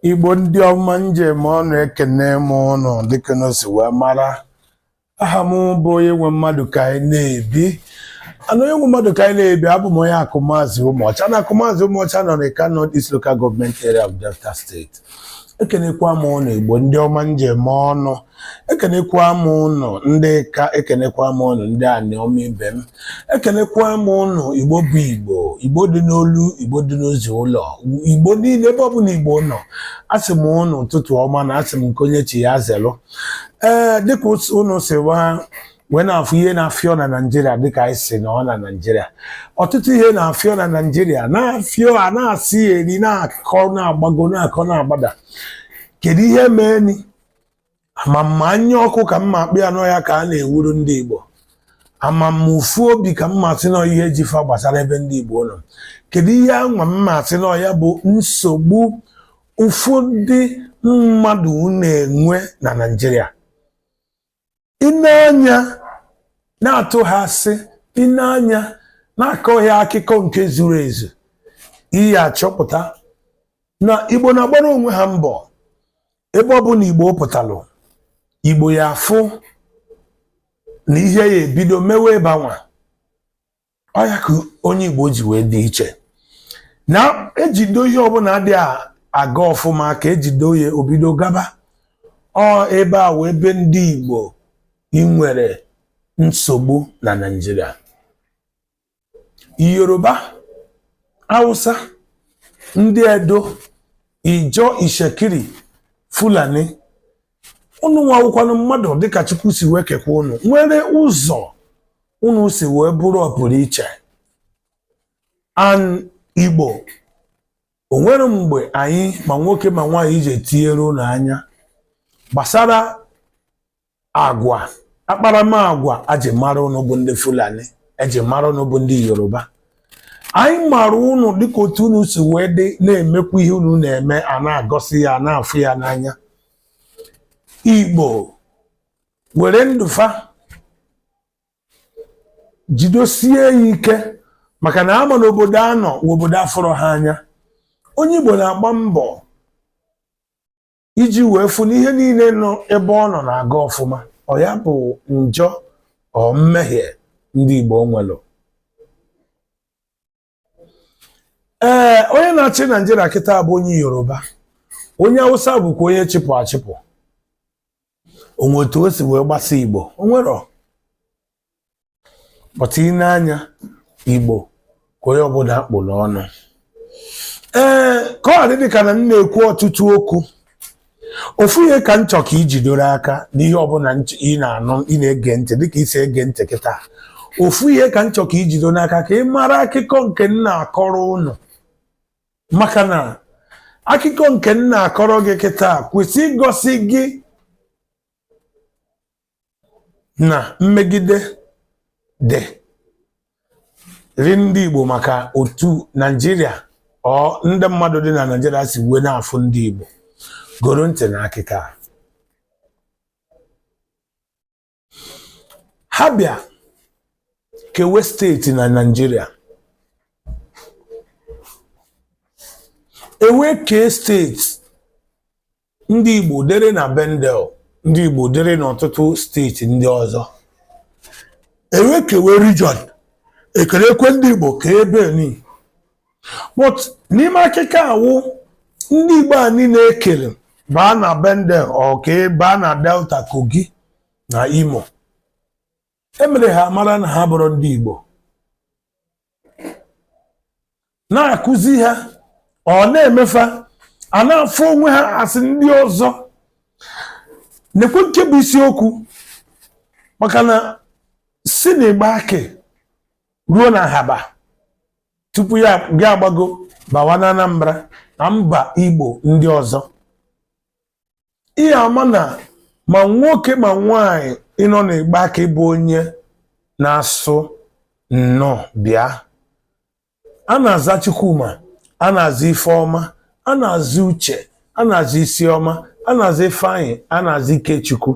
Igbo ndị ọma m ji eme ọnụ ekene m ụnụ dịka ụnụ si wee mara aha m bụ onye nwe mmadụ ka anyị na-ebi ana onye nwe mmadụ ka anyị na-ebi abụ m onye akụmazị ụmụọcha na akụmazị ụmụọcha nọ n'Ika North East Local Government Area of Delta State ekenekwa m ụnụ Igbo ndị ọma m ji eme ọnụ ekenekwa m ụnụ ndị Ika ekenekwa m ụnụ ndị anịọma ibe m ekenekwa m ụnụ igbo bụ igbo igbo dị n'olu igbo dị n'ozi ụlọ igbo niile ebe ọbụla igbo nọ asị m ụnụ ụtụtụ ọma na asị m nke onye chi ya zelụ ee dịka ụnụ si wee na-afụ ihe na-afịọ na naijiria dịka anyị si nọ na naijiria ọtụtụ ihe na-afịọ na naijiria na-afịọ na asịrị na-akọ na-agbago na-akọ na-agbada kedu ihe mee ni ama m ma anya ọkụ ka m ma-akpọ ya na ọ ya ka a na-ewuru ndị Igbo ama m ma ụfụ obi ka m ma-asị na ọ ihe ji fa gbasara ebe ndị Igbo nọ kedu ihe anwa m ma-asị na ọ ya bụ nsogbu ụfọdụ mmadụ na-enwe na Naịjirịa i nee anya na-atụghị asị i nee anya na-akọghị akụkọ nke zuru ezu ị ya-achọpụta na igbo na-agbara onwe ha mbọ ebe ọbụna igbo pụtalụ igbo ya afụ na ihe ya ebido mewe ebe anwa ọ ya ka onye Igbo ji wee dị iche na ejido ihe ọbụla adị aga ọfụma aka ejido ya o bido gaba ọ ebe a wụ ebe ndị Igbo ị nwere nsogbu na Naịjirịa Yoruba Hausa ndị Edo Ijaw Itsekiri Fulani unu nwa wụkwanụ mmadụ dịka chukwu si wee kekwa unu nwere ụzọ unu si wee bụrụ ọpụrụ iche an igbo o nwere mgbe anyị ma nwoke ma nwaanyị ji etinyere unu anya gbasara agwa akparamagwa eji mara unu bụ ndị fulani eji mara unu bụ ndị yoruba anyị mara unu dịka otu unu si wee dị na-emekwa ihe unu na-eme a na-egosi ya a na-afụ ya n'anya igbo were ndụ fa jidosie ya ike maka na a ma na obodo a nọ wụ obodo afụrọ ha anya onye igbo na-agba mbọ iji wee fụ na ihe niile nọ ebe ọ nọ na-aga ọfụma ọ ya bụ njọ or mmehie ndị igbo nwelụ ee onye na-achị naijiria kịta bụ onye yoruba onye awụsa bụkwa onye chịpụ achịpụ o nwe otu o si wee gbasa igbo o nwero but i nee anya igbo ka onye ọbụla kpụ n'ọnụ ee ka ọ dị dịka na m na-ekwu ọtụtụ okwu ofu ihe ka m chọọ ka i jidoro aka n'ihe ọbụla ị na-anụ ị na-ege ntị dịka i si ege ntị kịta ofu ihe ka m chọọ ka i jidoro n'aka ka ị mara akụkọ nke m na-akọrọ ụnụ maka na akụkọ nke m na-akọrọ gị kịta kwesị igosi gị na mmegide dịrị ndị Igbo maka otu Naijiria or ndị mmadụ dị na Naijiria si wee na-afụ ndị Igbo goro ntị na akịkọ a. ha bịa kewe steeti na Naijiria e wee kee steeti ndị Igbo dịrị na Bendel ndị Igbo dịrị n'ọtụtụ steeti ndị ọzọ e wee kewe region e kerekwe ndị Igbo ka ebe ni but n'ime akụkọ awụ ndị Igbo a niile e kere baa na Bendel or kee baa na Delta Kogi na Imo e mere ha mara na ha abụrọ ndị Igbo na-akụzi ha or na-eme fa a na-afụ onwe ha as ndị ọzọ nekwe nke bụ isiokwu maka na si na Igbanke ruo na Ahaba tupu gị agbago bawa na Anambra na mba Igbo ndị ọzọ ị ga-ama na ma nwoke ma nwaanyị nọ na Igbanke bụ onye na-asụ nnọọ bịa a na-aza Chukwuma a na-aza Ifeọma a na-aza Uche a na-aza Isiọma a na-aza Ifeanyị a na-aza Ikechukwu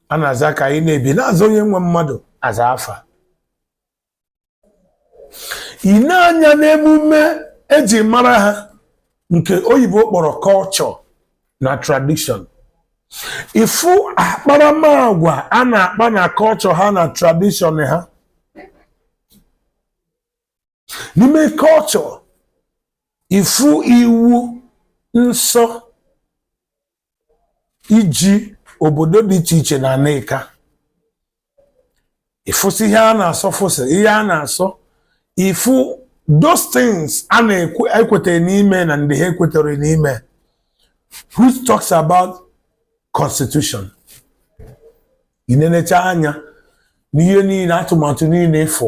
a na-aza Kanyịnebi na-aza onye nwe mmadụ aza afa i nee anya n'emume e ji mara ha nke oyibo kpọrọ culture na tradition ị fụ akparamagwa a na-akpa na culture ha na tradition ha n'ime culture ị fụ iwu nsọ ji obodo dị iche iche na ana Ika ị fụsị ihe a na-asọ fụsị ihe a na-asọ ị fụ those things a na-ekwetara n'ime na ndị ha ekwetara n'ime which talks about constitution i nenechaa anya n'ihe niile atụmatụ niile ị fụ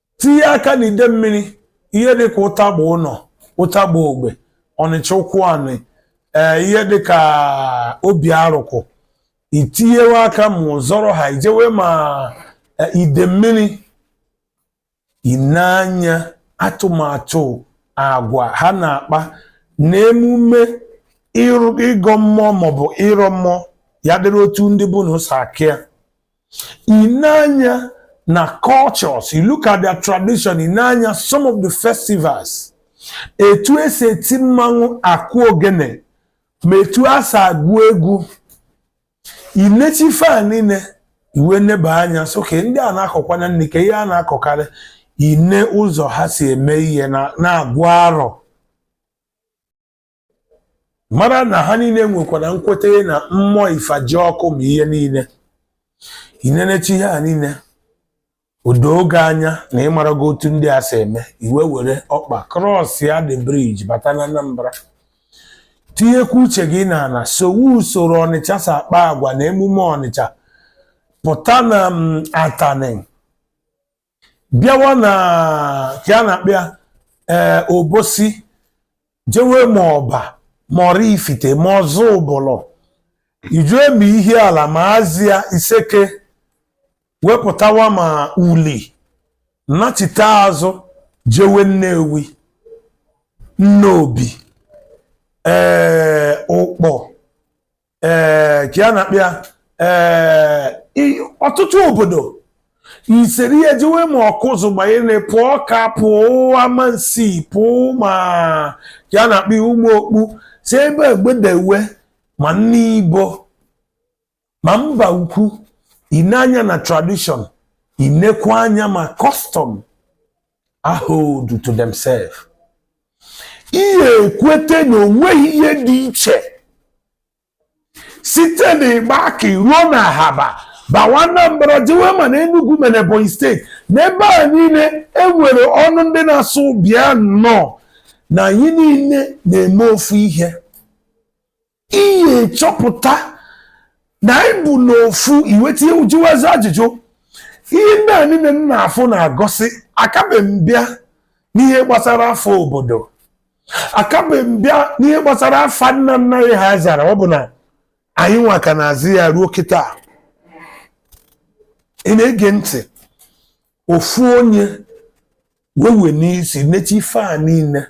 tinye aka na ide mmiri ihe dịka ụtagba ụnọ ụtagba ogbe ọnịcha ụkwụanị ee ihe dịka obiarụkụ itinyewe aka ma ụzọrọ ha ijewe ma e, ide mmiri ine anya atụmatụ agwa ha na-akpa na emume ịrụ- ịgọ mmụọ maọbụ ịrọ mmụọ ya dịrị otu ndị bụ na ụsọ akịa Ine anya na cultures, you look at their tradition, ine anya, some of the festivals, etu esi eti mmanwụ akụ ogene ma etu a si agụ egwu inecha ife a niile iwe neba anya sị okay ndị a na-akọkwa na nni ka ihe a na-akọkarị ine ụzọ ha si eme ihe na-agụ arọ mara na ha niile nwekwara nkweta na mmụọ ifejiọkụ ma ihe niile inenecha ihe a niile o doo gị anya na ịmarago otu ndị a si eme iwe were ọkpa cross ya the bridge bata na Anambra tinyekwa uche gị na ala sowe usoro ọnịcha si akpa agwa na emume ọnịcha pụta na mm, atani bịawa na ka a na-akpọ ya ee obosi jewe ma ọba ma ọraifite ma ọzụbụlụ ijewe ma ihiala ma azịa iseke wepụtawa ma uli nachite azụ jewe nnewi nnobi ee ụkpọ ee ka a na-akpị ya ee i- ọtụtụ obodo iseri ya jewe ma ọkụzụ gbanyere pụọ ọka pụọ amansi pụọ ma ka a na-akpị ụmụọkpụ si ebe a gbedewe ma nibo ma mbaukwu ine anya na tradition inekwa anya ma custom ha hold to themselves ị ya-ekwete na onweghị ihe dị iche site na Igbanke ruo na ahaba bawa Anambra jewe ma na Enugu ma na Ebonyi steeti n'ebe a niile enwere ọnụ ndị na-asụ bịa nnọọ na anyị niile na-eme ofu ihe ị ya-achọpụta na anyị bụ n'ofu iweta ihe ịjụwazi ajụjụ ihe ndị a niile m na-afụ na-egosi akabe m bịa n'ihe gbasara afa obodo akabe m bịa n'ihe gbasara afa nna nna anyị ha zara ọ bụ na anyị nwa ka na-azị ya ruo kịta ị na-ege ntị ofu onye wewe n'isi nechi ife a niile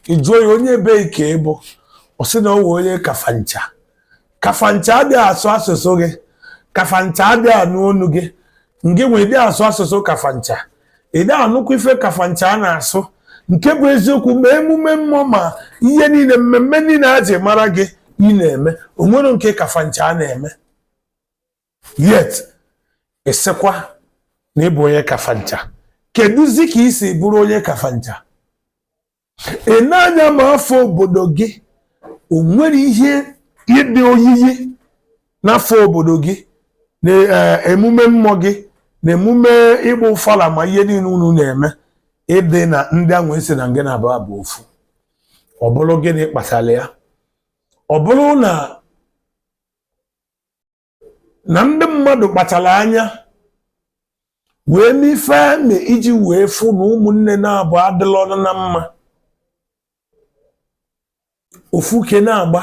ị jụọ ya onye ebe ka ị bụ ọ sị na ọ wụ onye kafancha kafancha adịghị asụ asụsụ gị kafancha adịghị anụ onu gị ngị nwa adị asụ asụsụ kafancha ị dị anụkwa ife kafancha a na-asụ nke bụ eziokwu ma emume mmụọ ma ihe niile mmemme niile a ji mara gị ị na-eme o nwerọ nke kafancha a na-eme yet ị sịkwa na ị bụ onye kafancha kedụzi ka i si bụrụ onye kafancha ị na-anya ma afọ obodo gị o nwere ihe dị oyiyi n'afọ obodo gị na emume mmụọ gị na emume ịgba ọfala ma ihe niile unu na-eme ịdị na ndị ahụ ị sị na ngị na fa bụ ofu ọ bụrụ gịnị kpatara ya ọ bụrụ na na ndị mmadụ kpachara anya wee mee ife a eme iji wee fụ na ụmụnne naabọ adịla ọnụ na mma ofu ke na-agba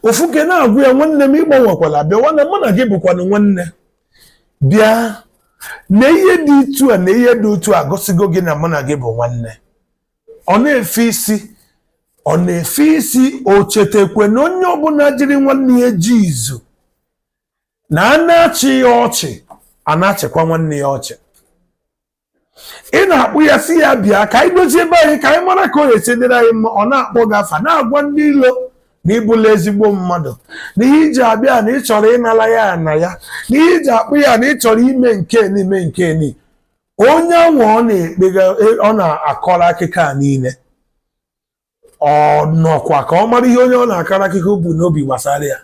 ofu ke na-agwa ya nwanne m ị gbanwekwala bịa nwanne mụ na gị bụkwanụ nwanne bịa na ihe dị etu a na ihe dị otu a gosigo gị na mụ na gị bụ nwanne ọ na-efe isi ọ na-efe isi o chetakwa na onye ọbụla jiri nwanne ya je izu na a na-achị ya ọchị a na-achịkwa nwanne ya ọchị ị na-akpọ ya sị ya bịa ka anyị dozie be anyị ka anyị mara ka ọ ga-esi dịrị anyị mma ọ na-akpọ gị afa na-agwa ndị ilo na ị bụla ezigbo mmadụ na ihe i ji abịa na ị chọrọ ịnara ya ana ya na ihe i ji akpọ ya na ị chọrọ ime nke ni ime nke ni onye anwa ọ na-ekpega ọ na-akọrọ akụkọ a niile ọ nọkwa ka ọ mara ihe onye ọ na-akọrọ akụkọ bu n'obi gbasara ya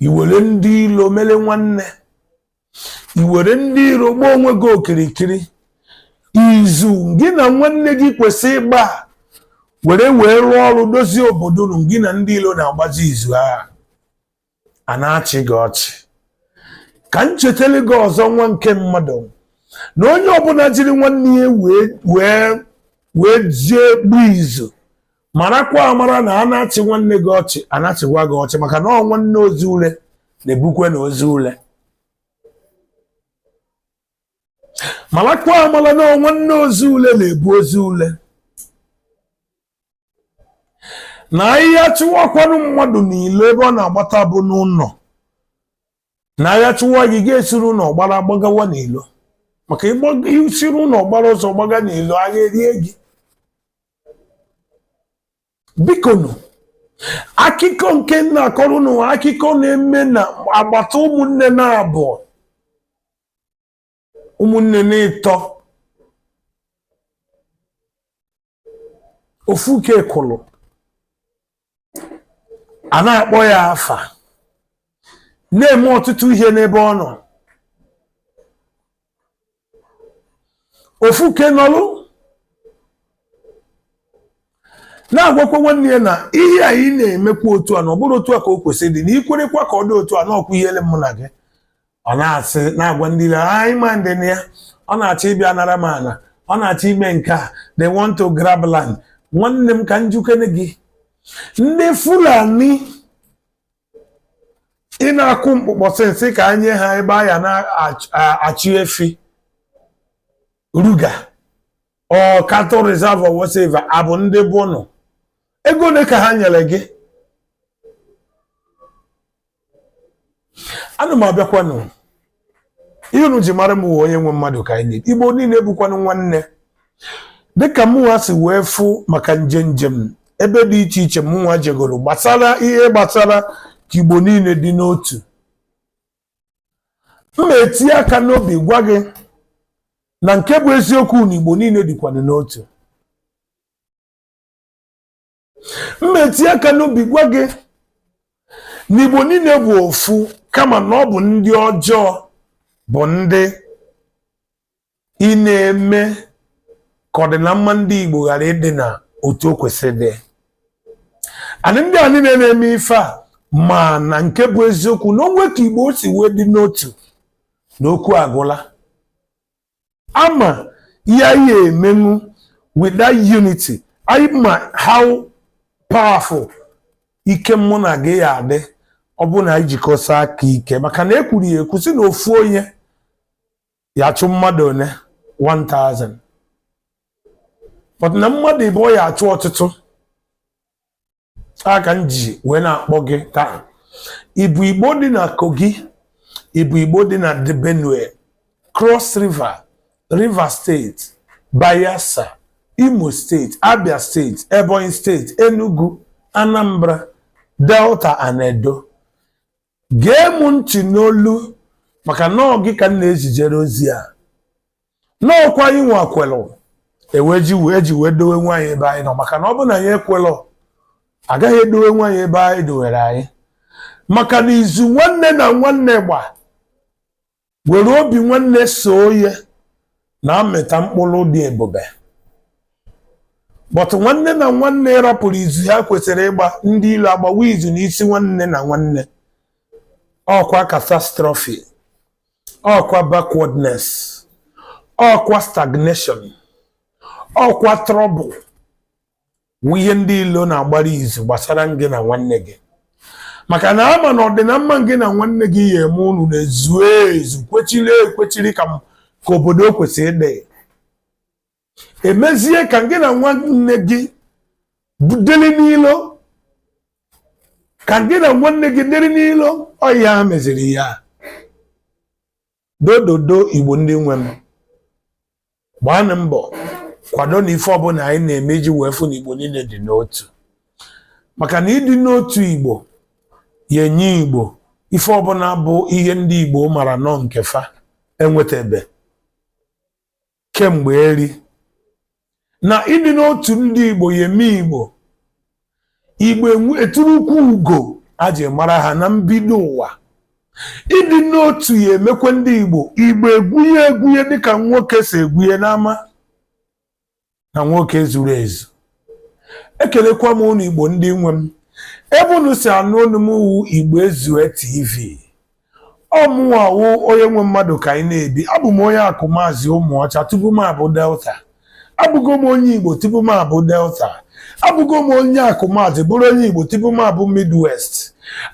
i were ndị ilo mere nwanne i were ndị iro gbaa onwe gị okirikiri izu gị na nwanne gị kwesị ịgba were wee rụọ ọrụ dozie obodo unu gị na ndị ilo na-agbazi izu agha a na-achị gị ọchị ka m chetara gị ọzọ nwa nke mmadụ na onye ọbụla jiri nwanne ya wee jee gbaa izu marakwa amara na a na-achị nwanne gị ọchị a na-achịkwa gị ọchị maka na ọ nwanne ozu ule na-ebukwenụ ozu ule marakwa amara na ọ nwanne ozu ule na-ebu ozu ule na agha chụwakwanụ mmadụ n'ilo ebe ọ na-agbata bụ n'ụlọ na agha chụwa gị ga-esiri ụlọ gbara gbagawa n'ilo maka i siri ụlọ gbara ọsọ gbaga n'ilo agha erie gị bikonu akụkọ nke m na-akọrọ unu akụkọ na-eme na agbata ụmụnne naabọ ụmụnne n'ịtọ ofu ke kụlụ a na-akpọ ya afa na-eme ọtụtụ ihe n'ebe ọ nọ ofu ke nọlụ na-agwakwa nwanne ya na ihe a ị na-emekwa otu a na ọ bụrọ otu a ka o kwesịrị dị na i kwerekwa ka ọ dị otu a na ọkwa ihele mụ na gị ọ na-asị na-agwa ndị ilo anyị ma ndị na ya ọ na-achọ ịbịa nara m ana ọ na-achọ ime nke a they want to grab land nwanne m ka m jụkene gị ndị fulani ị na-akụ mkpụkpọ since ka anyị nye ha ebe a ya na-achị efi ruga or cattle reserve or whatever abụ ndị bụ nọ ego ole ka ha nyere gị ana m abịakwanụ ihe unu ji mara m wee onye nwe mmadụ ka anyị igbo niile bụkwanụ nwanne dịka mụnwa si wee fụ maka nje njem ebe dị iche iche mụnwa jegoro gbasara ihe gbasara ka igbo niile dị n'otu m na-eti aka n'obi gwa gị na nke bụ eziokwu na igbo niile dịkwanụ n'otu m etinye aka n'obi gwa gị na igbo niile bụ ofu kama na ọ bụ ndị ọjọọ bụ ndị ị na-eme ka ọdịnamma ndị igbo ghara ịdị na otu o kwesịrị dị anyị ndị a niile na-eme ife a mana nke bụ eziokwu na o nwe ka igbo si wee dị n'otu na okwu agwụla a ma ihe anyị emenwu with that unity anyị ma how powerful ike mụ na gị ya adị ọ bụrụ na anyị jikọsa aka ike maka na e kwuru ya ekwu sị na ofu onye ya achụ mmadụ one 1000 but na mmadụ ịbụọ ya achụ ọtụtụ a ka m ji wee na-akpọ gị taa ị bụ igbo dị na kogi ị bụ igbo dị na the benue cross river rivers steeti bayelsa imo steeti abia steeti ebonyi steeti enugu anambra delta and edo gee m ntị n'olu maka na ọ gị ka m na-ezijere ozi a na ọkwa anyịnwa kwelụ e wee ji wee ji wee dowenwu anyị ebe anyị nọ maka na ọ bụrụ na anyị ekwelọ a gaghị edowenwu anyị ebe a dowere anyị maka na izu nwanne na nwanne gba were obi nwanne soo ya na-amịta mkpụrụ dị ebube but nwanne na nwanne rapụrụ izu ha kwesịrị ịgba ndị ilo agbawa izu n'isi nwanne na nwanne ọkwa catastrophe ọkwa backwardness ọkwa stagnation ọkwa trouble wụ ihe ndị ilo na-agbara izu gbasara gị na nwanne gị maka na a ma na ọdịnamma gị na nwanne gị ya eme unu na-ezu ezu kwechiri ekwechiri ka obodo o kwesịrị ịdị e mezie ka gị na nwanne gị dịrị n'ilo ka gị na nwanne gị dịrị n'ilo ọ ha meziri ya dododo igbo ndị nwe m gbaanụ mbọ kwado na ife ọbụla anyị na-eme iji wee fụ na igbo niile dị n'otu maka na ịdị n'otu igbo ya enye igbo ife ọbụla bụ ihe ndị igbo mara na ọ nke fa enwetebe kemgbe eri na ịdị n'otu ndị Igbo ya eme Igbo Igbo eturukwu ugo a ji mara ha na mbido ụwa ịdị n'otu ya emekwe ndị Igbo Igbo egwunye egwunye dịka nwoke si egwunye n'ama na nwoke zuru ezu ekelekwa m unu Igbo ndị nwe m ebe unu si anụ olu m wụ Igbo Ezue TV Ọ mụnwa wụ onye nwe mmadụ ka anyị na-ebi abụ m onye akụmazị ụmụọcha tupu m abụ delta abụgo m onye igbo tupu m abụ delta abụgo m onye akụmazị bụrụ onye igbo tupu m abụ midwest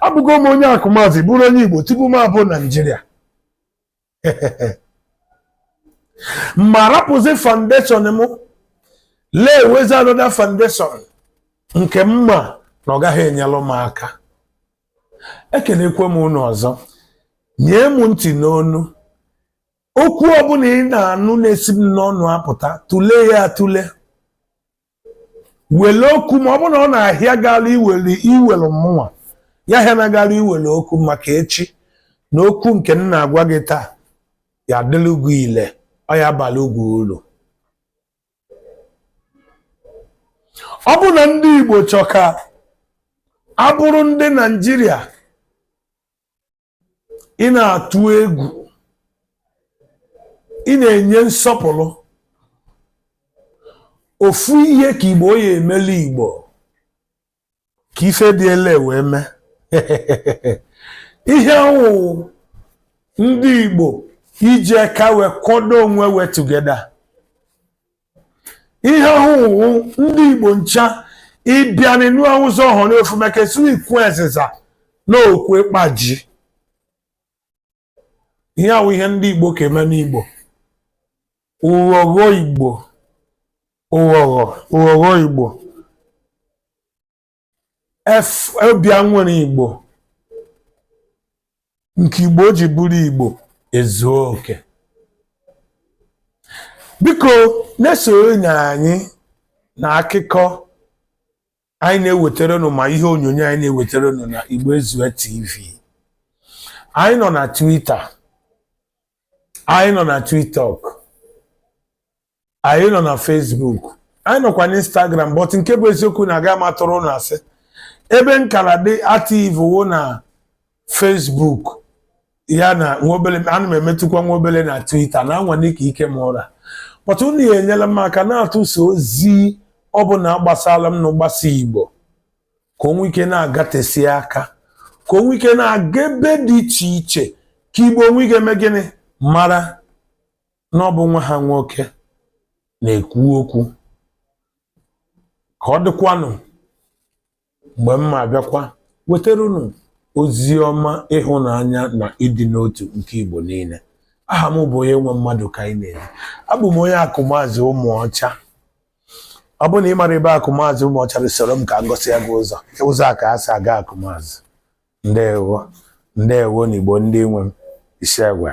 abụgo m onye akụmazị bụrụ onye igbo tupu m abụ naịjirịa m arapụzi foundation m lewezi another foundation nke m ma na ọ gaghị enyelụ m aka ekenekwe m unu ọzọ nye m ntị n'onu okwu ọbụla ị na-anụ na-esi m n'ọnụ apụta tụlee ya atụle wele okwu ma ọ bụ na ọ na-ahịa gị arụ iwere iwere mụnwa ya ahịana gị arụ iwere okwu maka echi na okwu nke m na-agwa gị taa ya adịlụ gụ ile ọ ya abalị gụ ulu ọ bụ na ndị Igbo chọ ka a bụrụ ndị Naịjirịa ị na-atụ egwu ị na-enye nsọpụrụ ofu ihe ka Igbo ya emelụ Igbo ka ife dị ele wee mee ihe ahụ wụ ndị Igbo iji aka wee kwado onwe wee together ihe ahụ wụ ndị Igbo ncha ịbịa n'enu ụzọ ọhụrụ ofu maka esu ukwu ezịza na okwu ịkpaji ihe a wụ ihe ndị igbo ka eme n'igbo ụghọghọ igbo ụghọghọ ụghọghọ igbo phobia nwere igbo nke igbo ji bụrụ igbo ezuo oke biko na-esonyere anyị na akụkọ anyị na-ewetara unu ma ihe onyonyo anyị na-ewetara unu na Igbo Ezue TV anyị nọ na Twitter anyị nọ na TikTok anyị nọ na Facebook anyị nọkwa na Instagram but nke bụ eziokwu na aga m atụrụ unu asị ebe m ka na-adị active wụ na Facebook ya na nwa obele ana m emetụkwa nwa obele na Twitter na-anwale ka ike m ra but unu ya enyela m aka na-atụsa ozi ọ bụla gbasara m na gbasa Igbo ka o nwee ike na-agatesi aka ka o nwee ike na-aga ebe dị iche iche ka Igbo nwee ike mee gịnị mara na ọ bụ nwa ha nwoke na-ekwu okwu ka ọ dịkwanụ mgbe m ma-abịakwa wetara unu ozi ọma ịhụnanya na ịdị n'otu nke Igbo niile aha m bụ onye nwe mmadụ ka anyị na-ebi abụ m onye akụmazị ụmụọcha ọ bụrụ na ị mara ebe akụmazị ụmụọcha rị soro m ka m gosi gị ụzọ ụzọ a ka e si aga akụmazị ndewo ndewo na igbo ndị nwe m isi agwa